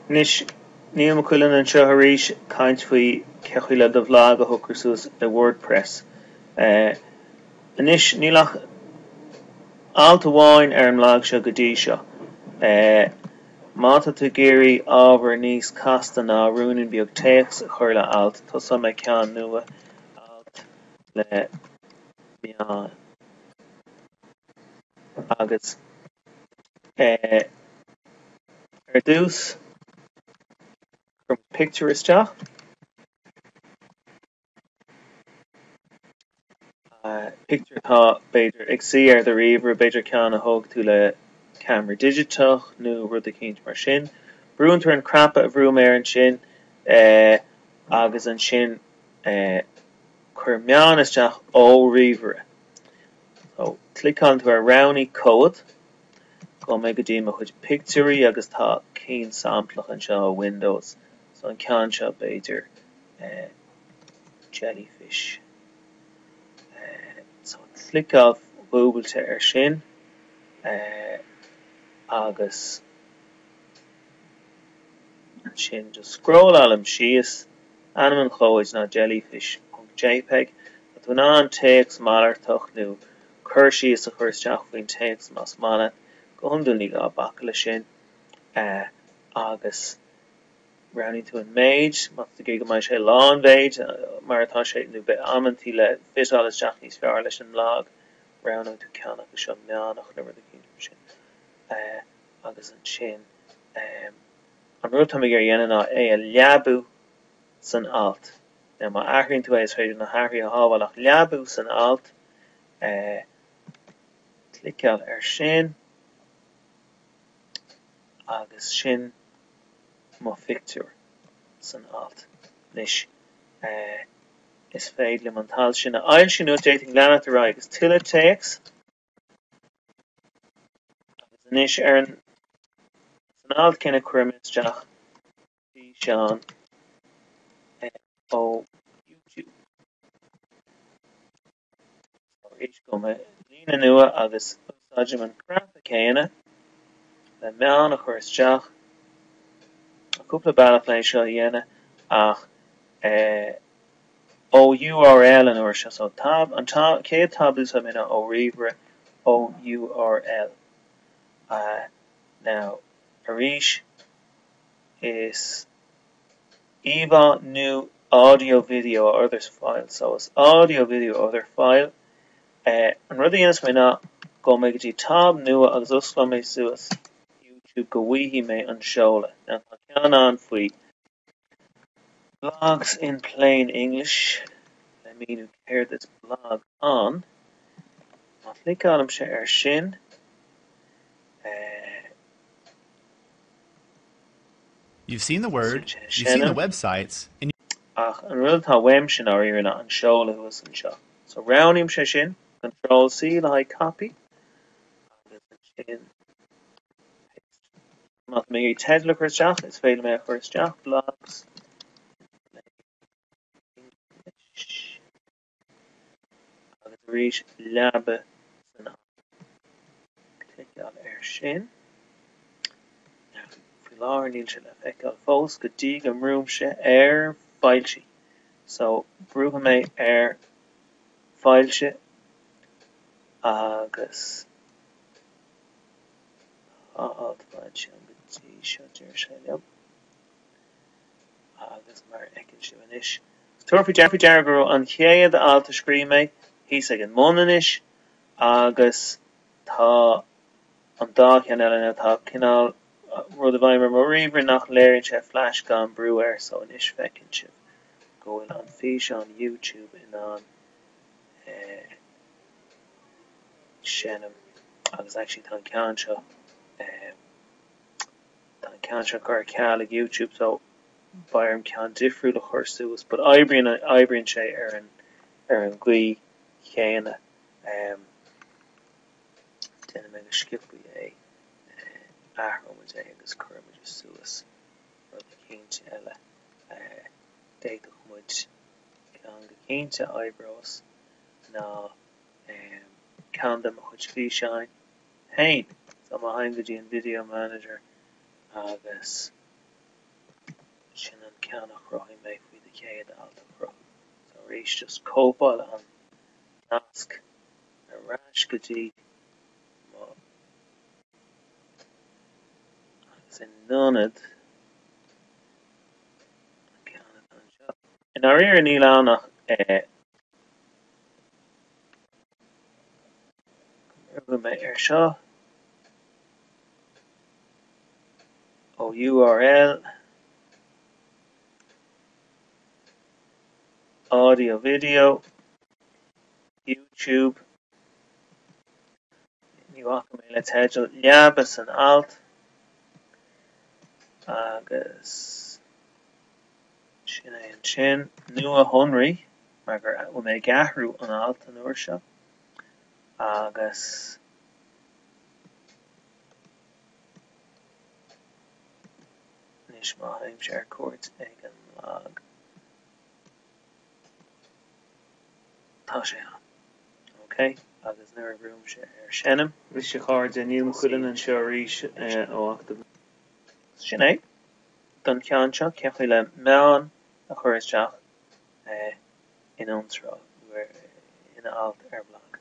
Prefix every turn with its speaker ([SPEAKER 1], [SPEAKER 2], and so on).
[SPEAKER 1] Anois Niall McQuillan anseo arís ag caint faoi cé chaoi le do bhlag a shocrú suas i WordPress. Anois níl ach alt amháin ar an mblag seo go dtí seo. Má tá tú ag iarraidh ábhar níos casta ná ruainnín beag téacs a chur le alt, tosóidh mé ceann nua, alt le meáin agus. Ar dtús, cuirim pictiúr isteach pictiúr atá b'fhéidir ag suí ar do ríomhaire, b'fhéidir ceann a thóg tú le ceamara digiteach nó rud eicínt mar sin. Brúnn tú ar an gcnaipe a bhrú mé ar ansin agus ansin cuir meáin isteach ó ríomhaire. So cliceálann tú ar Roghnaigh Comhad. Gabhfaidh mé go dtí mo chuid pictiúirí agus tá cinn samplach anseo ó Windows. So an ceann seo b'fhéidir Jellyfish. So cliceáil dhúbailte ar sin agus. ansin just scrólláilim síos, ainm an chomhaid ná jellyfish ponc jpeg, tá tú in ann téacs malartach nó cur síos a chur isteach faoin téacs más maith leat, go hiondúil ní gá bacadh le sin, agus roghnaíonn tú an méid, má tá tú ag iarraidh go mbeidh sé lán mhéid mar atá sé nó b'fhéidir amantaí le fiteáil isteach níos fearr leis an mblag, roghnóidh tú ceann acu seo meánach nó rud eicínt mar sin. agus ansin an rud atá mé ag iarraidh a dhéanamh ná é a leabú san alt nó má athraíonn tú é is féidir na hathruithe a shábháil ach leabú san alt cliceáil ar sin agus sin mo phictiúr san alt anois is féidir liom an t-alt sin a fhoilsiú nó d'fhéadfainn leanacht ar aghaidh agus tuilleadh téacs Agus anois ar an san alt céanna cuirfidh mé isteach físeán ó YouTube. So gabhfaidh mé líne nua agus úsáidim an cnaipe céanna le meáin a chur isteach. Tá cúpla bealach le é seo a dhéanamh ach eh. ó URL an uair seo so tab an chéad tab is mine ó ríomhaire ó URL ah now arís is íomhá nó audio video or other file so is audio video or other file eh an rud a dhéanfas mé ná gabhfaidh mé go dtí tab nua agus osclóidh mé suas YouTube go bhfaighidh mé an seoladh now tá ceann ann faoi Blogs in plain English, Le míniú céard is blag ann, Má chliceálaimse air sin, eh,
[SPEAKER 2] You've seen the word, sin é ag you've seen the seinm. websites, and you. Ach an rud
[SPEAKER 1] atá uaim, sin dáiríre, an seoladh thuas anseo. So roghnaímse sin, Control C le haghaidh copy, agus ansin paste. Más maith liom teideal a chur isteach is féidir liom é a chur isteach blogs plain English agus arís leabaigh san alt. Cliceáil air sin. Faoi láthair níl sé le feiceáil fós go dtí go mbrúimse ar foilsigh. So brúfaidh mé ar foilsigh agus Féach ansin go dtí seo deir sé liom. Agus mar a fheiceann sibh anois. Tabharfaidh faoi deara go raibh an chéad alt a scríobh mé thíos ag an mbun anois agus tá an dá cheann eile ann. Tá cineál rud i bhfeidhm ar mo ríomhaire nach léiríonn sé flash gan brú air so anois feiceann sibh go bhfuil an físeán YouTube in ann seinm agus actually tá an ceann seo ehm tá an ceann seo curtha ar ceal ag YouTube so beidh orm ceann difriúil a chur suas but oibríonn oibríonn sé ar an ar an gcaoi chéanna ehm déanfaidh mé go sciobtha é eh athróimid é agus cuirfimid é suas rud eicínt eile eh d'fhéadfadh muid ceann go cinnte a oibreos. ná ceann de mo chuid físeáin féin. So má théim go dtí an video manager agus sin an ceann a chruthaigh mé faoi do chéad alt a chruthú. So arís just cóipeáil an nasc ar ais go dtí mo agus in ionad an ceann atá anseo. I ndáiríre níl ann ach rugadh mé air seo. Ó URL audio video YouTube Ní bhacfaidh mé le teideal le haghaidh an alt agus Sin é ansin, nuashonraí, mar gur bhfuil mé ag athrú an alt an uair seo, agus anois má théimse ar cuairt ar an mblag, tá sé ann, ok, agus nuair a bhrúimse ar seinm. Bhuel a chairde, Niall Ó Cuilinn anseo arís ó October. Sin é. don cheann seo, cén chaoi le meáin a chur isteach in iontráil nó in alt ar bhlag.